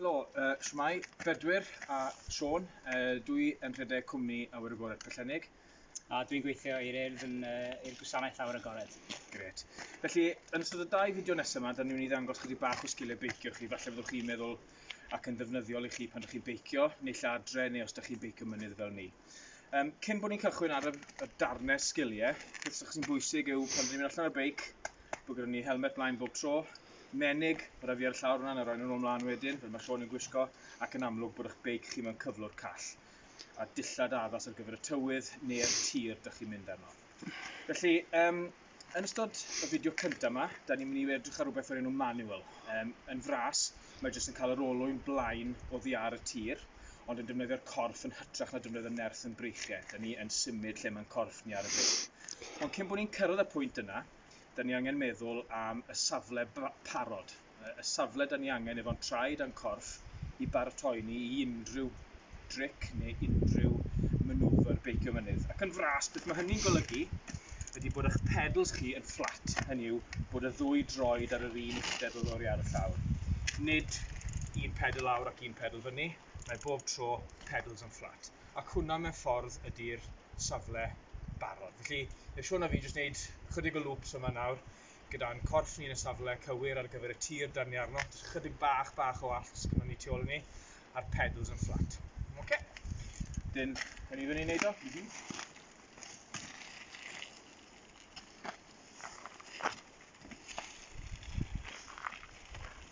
Helo, uh, Shwmai, Bedwyr a Sean. Uh, dwi yn rhedeg cwmni Awyr Agored Pyllennig. A dwi'n gweithio i'r urdd yn uh, i'r gwasanaeth Awyr Agored. Gret. Felly, yn ystod y dau fideo nesaf yma, da ni'n mynd i ddangos chyddi bach o sgiliau beicio chi. Falle fyddwch chi'n meddwl ac yn ddefnyddiol i chi pan ydych chi'n beicio, neu lle adre, neu os ydych chi'n beicio mynydd fel ni. Um, cyn bod ni'n cychwyn ar y, y darnau sgiliau, beth sy'n chi'n bwysig yw pan ni'n mynd allan ar y beic, bod gyda ni helmet blaen bob tro, menig, mae rhaid fi ar y llawr hwnna, a rhaid nhw'n ymlaen wedyn, fel mae Sean yn gwisgo, ac yn amlwg bod eich beic chi mewn cyflwr call, a dillad addas ar gyfer y tywydd neu'r tir dych chi'n mynd arno. Felly, um, Yn ystod y fideo cyntaf yma, da ni'n mynd i edrych ar rhywbeth o'r enw manual. Um, yn fras, mae jyst yn cael yr olwyn blaen o ddiar y tir, ond yn defnyddio'r corff yn hytrach na defnyddio nerth yn breichiau. Da ni yn symud lle mae'n corff ni ar y byd. Ond cyn bod ni'n cyrraedd y pwynt yna, da ni angen meddwl am y safle parod. y safle da ni angen efo'n traed a'n corff i baratoi ni i unrhyw dric neu unrhyw manoeuvre beicio mynydd. Ac yn fras, beth mae hynny'n golygu ydy bod eich pedals chi yn fflat, hynny yw bod y ddwy droed ar yr un uchder o lori ar y llawr. Nid un pedal lawr ac un pedal fyny, mae bob tro pedals yn fflat. Ac hwnna mewn ffordd ydy'r safle barod. Felly, mae Siôn a fi jyst wneud chydig o loops yma nawr gyda'n corff ni yn y safle cywir ar gyfer y tir dan ni arno, jyst chydig bach bach o allt sgynnon ni tu ôl i ni, a'r pedals yn fflat. Oce? Okay. Dyn, yn i fyny wneud o? Mm -hmm.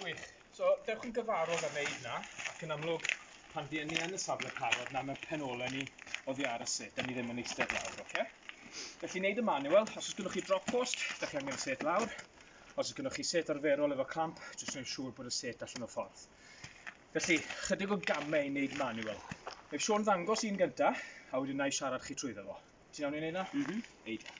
Gwych. So, dewch yn gyfarod a wneud na, ac yn amlwg, pan fi ni yn y safle parod, na mewn pen ole ni oddi ar y set, da ni ddim yn eistedd lawr, oce? Okay? Felly, wneud y manual, os oes gennych chi drop post, da chi angen y set lawr. Os oes gennych chi set arferol efo clamp, jyst wneud siŵr bod y set allan o ffordd. Felly, chydig o gamau i wneud manual. Mae Sean ddangos un gyntaf, a wedyn na i siarad chi trwy ddefo. Ti'n iawn i wneud na? Mhm. Eidia.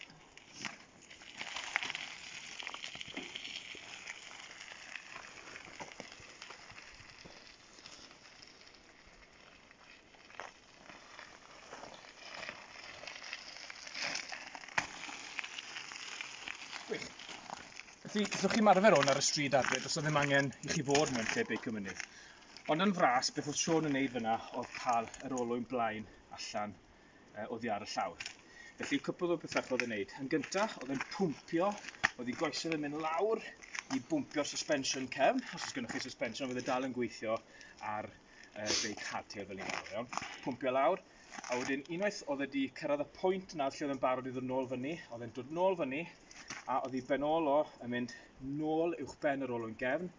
Felly, so chi marfer hwn ar y stryd adre, does ddim angen i chi fod mewn lle beicio mynydd. Ond yn fras, beth oedd Sean yn neud fyna oedd cael yr olwyn blaen allan uh, oddi ar y llawr. Felly cwpl o bethau oedd yn neud. Yn gyntaf, oedd yn pwmpio, oedd i goesau yn mynd lawr i bwmpio'r suspension cefn. Os oes gennych chi suspension, oedd e dal yn gweithio ar uh, beic hardtail fel ni'n gael iawn. Pwmpio lawr, a wedyn unwaith oedd wedi cyrraedd y pwynt yna lle oedd yn barod i ddod nôl fyny, oedd e'n dod nôl fyny, a oedd hi ben ôl o yn mynd nôl uwch ben yr olwyn gefn,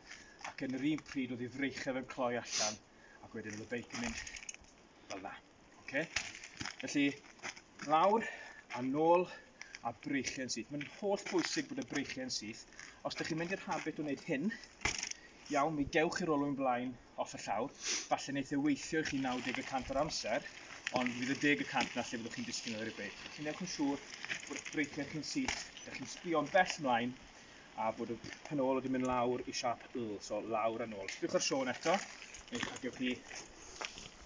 ac yn yr un pryd oedd hi freichaf yn cloi allan, ac wedyn oedd y beic yn mynd fel na. Okay? Felly, lawr a nôl a breichiau'n syth. Mae'n holl bwysig bod y breichiau'n syth. Os ydych chi'n mynd i'r habit o wneud hyn, iawn, mi gewch i'r olwyn blaen off y llawr. Falle wneud ei weithio i chi 90% o'r amser, ond fydd y 10% na lle fyddwch chi'n disgyn ar y beic. Felly newch yn siŵr bod breichiau chi'n syth, ydych chi'n sbio'n bell mlaen, a bod y canol wedi mynd lawr i siap Y, so lawr a nôl. Cliciwch ar Siôn eto, neu a gewch chi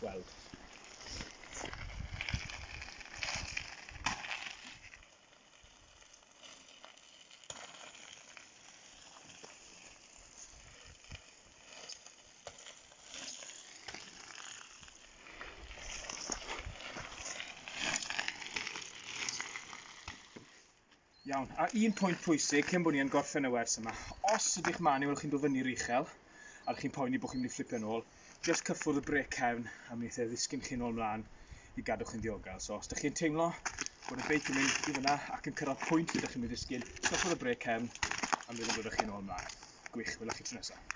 weld. Iawn, a un pwynt pwysig cyn bod ni yn gorffen y wers yma. Os ydych man i weld chi'n dod fyny'r uchel, a chi'n poeni bod chi'n mynd i fflipio nôl, just cyffwrdd y brec cefn a mi eithaf ddisgyn chi'n ôl mlaen i gadw chi'n ddiogel. So os ydych chi'n teimlo bod y beic yn mynd i fyna ac yn cyrraedd pwynt ydych chi'n mynd i ddisgyn, cyffwrdd y brec cefn a mi ddod chi'n ôl mlaen. Gwych, wylwch chi tro nesaf.